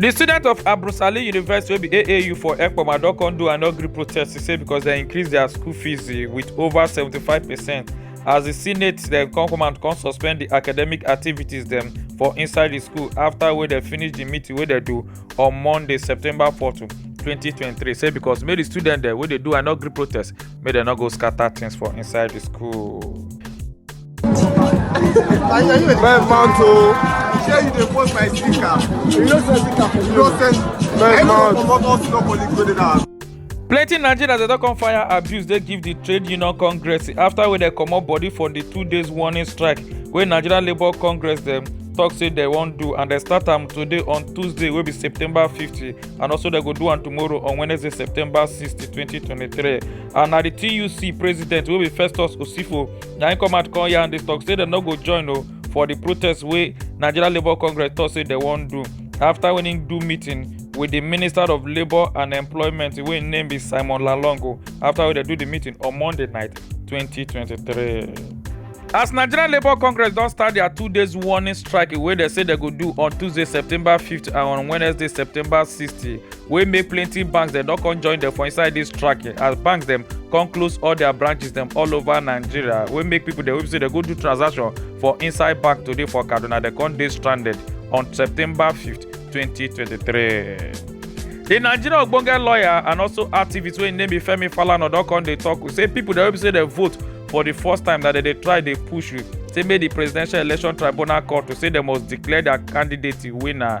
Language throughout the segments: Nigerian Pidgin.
di students of abrusali university wey be aau for ekpoma don come do anogri protest to say because dem increase dia school fees eh, with over 75 percent as di senate dem come come and come suspend di academic activities dem for inside di school afta wey dem finish di meeting wey dem do on monday september 4 2023 say because make di students dem wey dey do anogri protest make dem no go scatter things for inside di school. Bẹ́ẹ̀ máa ń to. Ṣé you dey post my sticker? You no send sticker for me. You no send. Bẹ́ẹ̀ máa ń to. Comot all senior colleagues wey dey that house. plenty nigerians dey don come fire abuse dey give di trade union congress afta wey dem comot body for di two days warning strike wey nigeria labour congress dem tok say dem wan do and dem start am today on tuesday wey be september 50 and also dem go do am tomorrow on wednesday september 60 2023 and na di tuc president wey be festus osifo na im come out come yarn dis talk say dem no go join o for di protest wey nigeria labour congress tok say dem wan do afta wen im do meeting wit di minister of labour and employment wey im name be simon lalong o afta wey dem do di meeting on monday night 2023. as nigeria labour congress don start dia two days warning strike wey dem say dem go do on tuesday september 5th and on wednesday september 6th wey make plenty banks dem don come join dem for inside dis track as banks dem come close all their branches dem all over nigeria wey make people dem wey be say dem go do transaction for inside bank today for kaduna dem come dey stranded on september 5th 2023. di nigeria ogbonge lawyer and also activist wey im name be femi falana don come dey tok say pipo dem wey be say dem vote for di first time that dem dey try dey push say make di presidential election tribunal court to say dem must declare dia candidate winner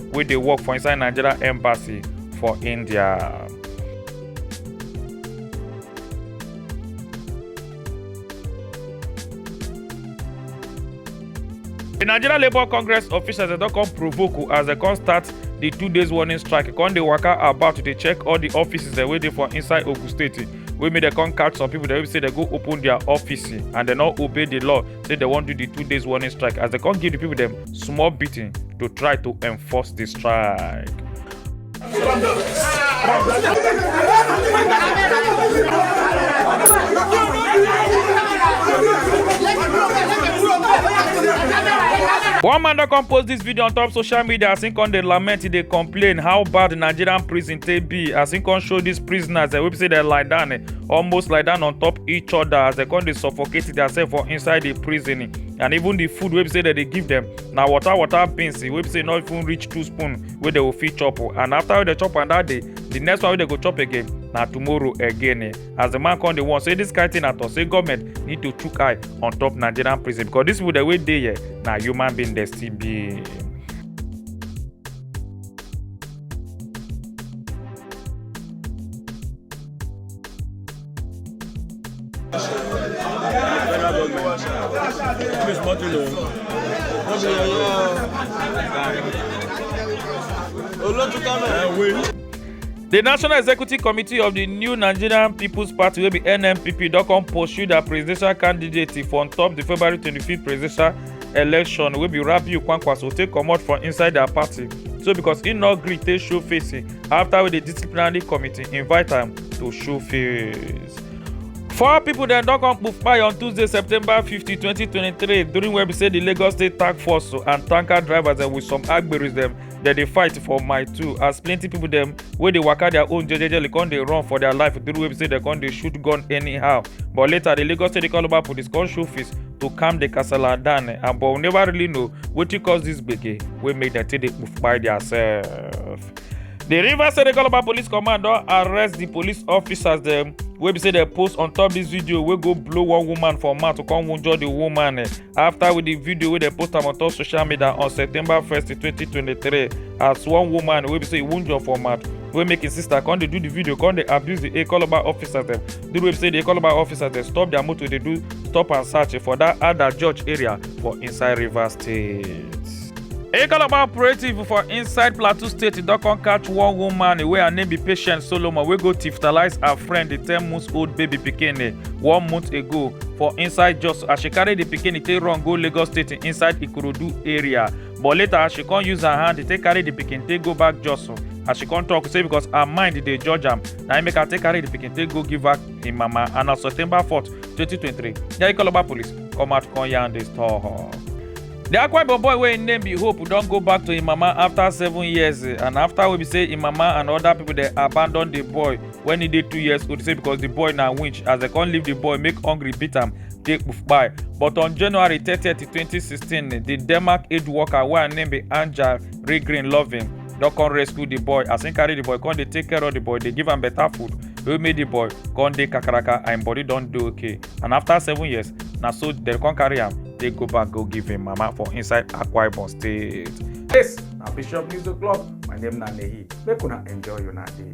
wey dey work for inside nigeria embassy for india. di nigeria labour congress officials dem don come provoke o as dem come start di two days warning strike e come dey waka about to dey check all di offices dem wey dey for inside ogun state wey make dem come catch some people dem wey be say dem go open their office and dem no obey di law say dem wan do di two days warning strike as dem come give di people dem small beating to try to enforce the strike. One man don come post this video on top social media as he come dey lament, he dey complain how bad Nigerian prison take be as he come show these prisoners dem wey be say dem lie down eh, almost lie down on top each other as dem come dey suffocate themselves for inside the prison. and even the food wey be say dem dey give them na water water beans wey be say no even reach two spoon wey dem go fit chop o and after wey dem chop am that day the next one wey dem go chop again na tomorrow again eh as the man come dey warn say this kind thing na to say government need to chook eye on top nigerian prison because these people dem wey dey here na human being dem still be. Federal government. Please, what you know? What you know? The National Executive Committee of the new Nigerian People's Party wey be NNPP don come pursue their presidential candidate for on top the February 25th presidential election wey be Rabiu Kwankwaso take comot from inside their party so because he no gree take show face after wey the disciplinary committee invite am to show face. four pipo dem don come kpai on tuesday september 50 2023 during wey be say di lagos state task force and tanker drivers dem with some agberis dem dem dey fight for my two as plenty pipo dem wey dey waka their own jejejely come dey run for their life during wey be say dem come dey shoot gun anyhow but later di lagos state call over police come show face to calm di kasala down and but we never really know wetin cause dis gbege wey make dem take dey kpai their self. di rivers state calabar police command don arrest di police officers dem wey be say dem post on top dis video wey go blow one woman for mouth to come wunjure di woman eh, afta with di video wey dem post am on top social media on september 1st 2023 as one woman wey be say e wunjure for mouth wey make im sister come dey do di video come dey abuse di calabar officers dem di way be say di calabar officers dem stop dia motor dey do stop and search for dat ada george area for inside rivers state. A Calabar operative for inside Plateau State don come catch one woman wey her name be Patient Solomon wey go tiftalize her friend, the 10 months old baby pikin eh, one month ago for inside Jos as she carry the pikin take run go Lagos State inside Ikorodu area. But later she come use her hand take carry the pikin take go back Jos as she come talk say because her mind dey judge am na im make her take carry the pikin take go give her im mama and on September 4th, 2023, the Ikoloba police come out come yarn this talk. Di Akwa Ibom boy wey im name be Hope don go back to im mama afta seven years and afta wey be say im mama and oda pipo dey abandon di boy wen e dey two years old say because di boy na winch as dem come leave di boy make hungry beat am take kpai. But on January thirty, twenty sixteen, di Denmark aid worker wey her name be Anja Regren Loving don come rescue di boy as im carry di boy come dey take care of di boy, dey give am better food wey make di boy come dey kakaraka and im body don dey okay. and after seven years na so dem come carry am take go back go give im mama for inside akwa ibom state. this na bishop news o'clock my name na nehi make una enjoy una day.